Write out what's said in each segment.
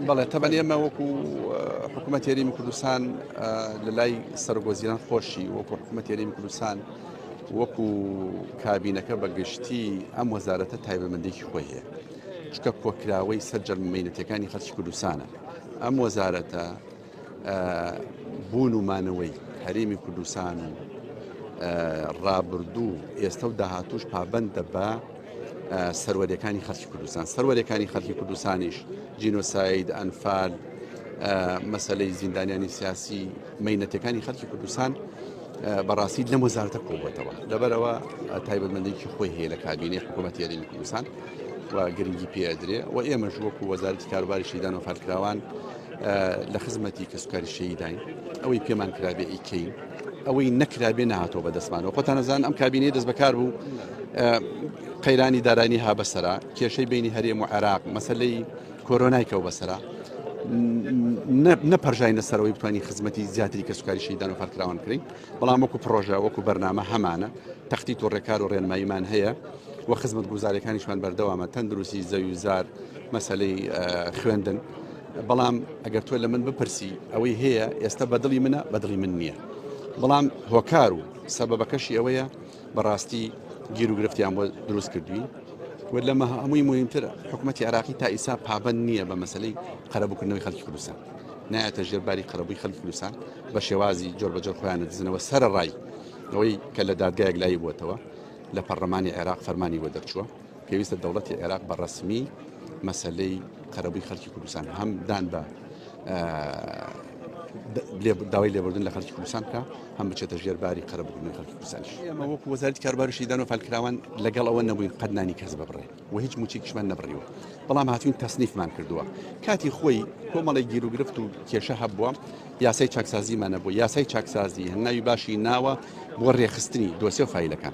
بەڵێ تەبەن ئێمە وەکو حکوومەت تێریمی کوردستان لە لای سەرگۆزیران خۆشی وەکو حکوومەت تێریمی کوردستان وەکو کابینەکە بەگشتی ئەم وەزارەتە تایبەمەندێکی خۆی هەیە چکە کۆکراوەی سەر جەرممەینەتەکانی خەرچ کوردستانە ئەم وەزارەتە بوون و مانەوەی هەرێمی کوردستان و ڕابردوو ئێستا و داهاتوش پابندە بە سەروەریەکانی خەرکی کوردستان سەروەریەکانی خەرکی کوردستانیش جینۆساید ئەنفال مەسلەی زیندانیانی سیاسی مینەتەکانی خەرکی کوردستان بەڕاستی لەم وەزارتە کۆبەتەوە لەبەرەوە تایبەتمەندێکی خۆی هەیە لە کابینی حکوومەت یاریمی کوردستان و گرنگی پێدرێ و ئێمەش وەکو وەزارتی کاروباری شیدان و فەرکراوان لە خزمەتی کەسوکاری شەیداین ئەوەی پێمان کرابێ ئیکەین ئەوەی نەکرابێ نهاتەوە بە دەستمانەوە خۆتانەزان ئەم کابینەی دەست بەکار بوو قەیرانی دارانی ها بەسرا کێشەی بینی هەرێم و عێراق مەسلەی کۆرۆنای کەەوە بەسرا نەپەرژینە سەرەوەی بتوانین خزمەتی زیاتری کە سوکاری شیدان و فەرکراوان کرین بەڵام وەکو پرۆژە وەکو بەرنامە هەمانە تەختی تۆ ڕێکار و ڕێنماییمان هەیە و خزمەت گوزارەکانیشمان بەردەوامە تەندروستی زەوی زار مەسلەی خوێندن بەڵام ئەگەر تۆ لە من بپرسی ئەوەی هەیە ئێستا بەدڵی منە بەدڵی من نییە بەڵام هۆکار و سەبەبەکەشی ئەوەیە بەڕاستی گیرروگرفتیان بۆ دروست کردوین و لەمە هەمووی مهمتر حکوومەتتی عراقی تا ئیسا پابند نییە بە مەسلەی قەرەبووکردنەوەی خەڵکی کوردستان نایەتە ژێرباری قەرەبووی خەڵکی کوردستان بە شێوازی جۆر بەجۆر خۆیان دزنەوە سەر ڕای ئەوەی کە لە دادگایەک لای بووتەوە لە پەرلەمانی عێراق فەرمانی بۆ دەرچووە پێویستە دەوڵەتی عێراق بە ڕەسمی مەسەلەی قەرەبووی خەلکی کوردستان هەم دان بە داوای لێبوردن لە خەرکی کوردستان بکە هەم بچێتە ژێر باری قەرەبوونی خەرکی کوردستانش ئێمە وەکو وەزارەتی کاربارشیدان و فالکراوان لەگەڵ ئەوە نەبووین قەدنانی کەس ببڕێ و هیچ موچێکیشمان نەبڕیوە بەڵام هاتوین تەسنیفمان کردووە کاتی خۆی کۆمەڵی گیر و گرفت و کێشە هەبووە یاسای چاکسازیمانە بۆ یاسای چاکسازی هەنگاوی باشی ناوە بۆ ڕێخستنی دۆسیە و فیلەکان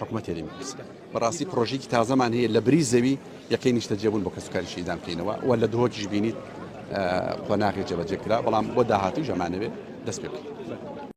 حکومەت یاری مەپرس بەڕاستی پرۆژیکی تازەمان هەیە لە بری زەوی یەکەی نیشتە جێبوون بۆ کەسوکاری شیدان بکەینەوە و لە دهۆکیش بینیت قۆناغی جێبەجێ کرا بەڵام بۆ داهاتوی ژەمانەوێت دەست پێ بکەین.